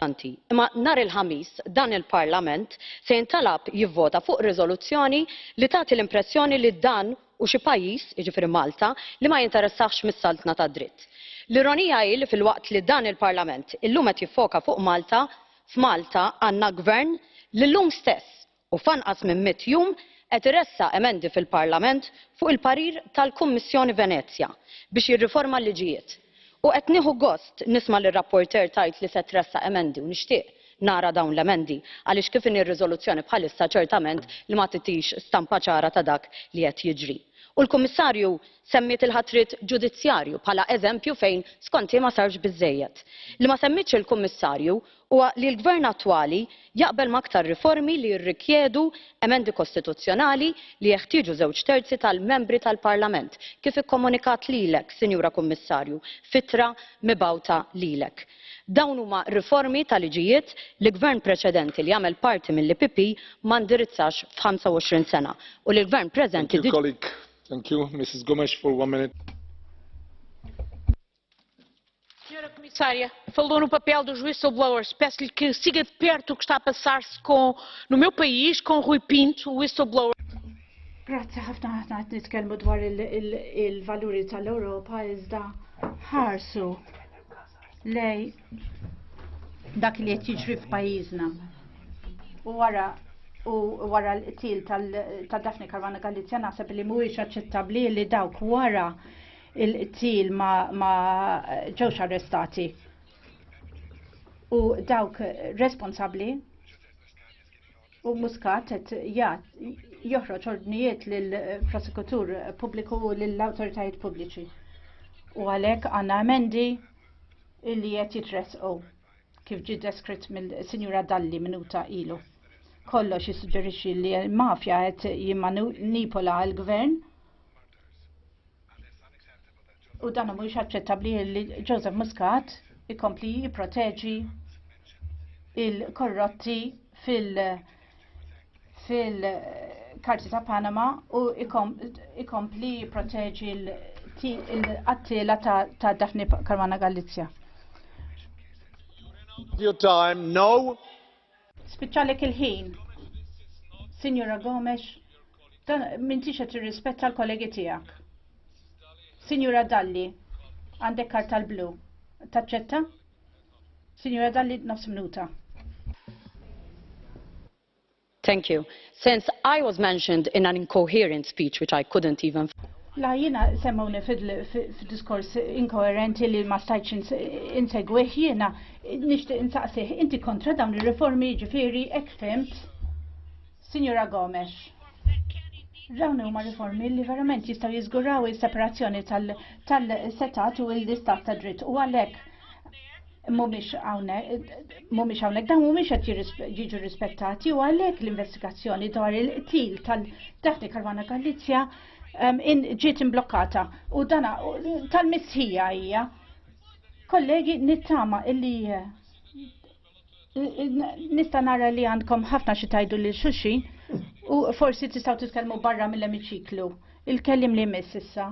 importanti. Imma nhar il-Ħamis dan il-Parlament se jintalab jivvota fuq riżoluzzjoni li tagħti l-impressjoni li dan u xi pajjiż, jiġifieri Malta, li ma jinteressahx mis-saltna tad-dritt. L-ironija hi li filwaqt li dan il-Parlament illum qed jiffoka fuq Malta, F'Malta għandna Gvern li llum stess u f'anqas minn mitt jum qed iressaq emendi fil-Parlament fuq il-parir tal-Kummissjoni Venezja biex jirriforma l-liġijiet. U qed nieħu gost nisma' lir-rapporteur tgħid li se tressaq emendi u nixtieq nara dawn l-emendi għaliex kif inhi r-riżoluzzjoni bħalissa ċertament li ma titix stampa ċara ta' dak li qed jiġri. U l-Kummissarju Semmiet il-ħatriet ġudizzjarju bħala eżempju fejn skont hi ma sarx biżżejjed. Li ma semmietx il-Kummissarju huwa li l-Gvern attwali jaqbel ma' aktar riformi li jirrikjedu emendi kostituzzjonali li jeħtieġu żewġ terzi tal-Membri tal-Parlament, kif ikkomunikat lilek, Sinjura Kummissarju, f'ittra mibgħuta lilek. Dawn huma riformi ta' liġijiet li Gvern preċedenti li għamel parti mill-EPP ma ndirizzax f'ħamsa u għoxrin sena u li l-Gvern preżenti diġà. Thank you, Mrs. Gomes, for one minute. Senhora Comissária, falou no papel dos whistleblowers. Peço-lhe que siga de perto o que está a passar-se com, no meu país, com Rui Pinto, o whistleblower. Grazzi ħafna ħafna qed nitkellmu dwar il-valuri tal-Ewropa iżda ħarsu lej dak li qed jiġri f'pajjiżna. U wara u wara l-qtil ta' Daphne Caruana Galizja naħseb li mhuwiex aċċettabbli li dawk wara il-qtil ma ġewx arrestati. U dawk responsabbli u Muscat qed joħroġ ordnijiet lill prosekutur pubbliku u lill awtoritajiet pubbliċi. U għalhekk għandna emendi illi qed jitressqu kif ġie deskritt mill-Sinjura Dalli minuta ilu. Kollox jissuġġerixxi li l-mafja qed jimmanipola l-gvern U dan mhuwiex aċċettabbli li Joseph Muscat ikompli jipproteġi il-korrotti fil- fil-karti ta' Panama u ikompli jipproteġi l-qattila ta' Daphne Caruana Galizia. Your time, no. Spiċċalek il-ħin. Signora Gomes, dan m'intix qed tirrispetta l-kollegi tiegħek. Signora Dalli, għandek karta l-blu. Taċċetta? Signora Dalli, nofs minuta. Thank you. Since I was mentioned in an incoherent speech which I couldn't even. La jiena semmewni f'diskors inkoerenti li ma stajtx insegwih jiena nixtieq insaqsih inti kontra dawn ir-riformi jiġifieri hekk fhimt? Sinjura Gomes. Dawn huma riformi li verament jistgħu jiżguraw is-separazzjoni tal-setgħat u l-istat tad-dritt u għalhekk mumiex hawnhekk dawn mumiex qed jiġu rispettati u għalhekk l-investigazzjoni dwar il-qtil tal-Daphne Caruana Galizja um, ġiet imblokkata u dana tal-missħija hija. Kollegi nittama illi eh, nista' nara li għandkom ħafna xi tajdu lil xulxin u forsi tistgħu titkellmu barra mill-emiċiklu. Il-kellim li miss issa.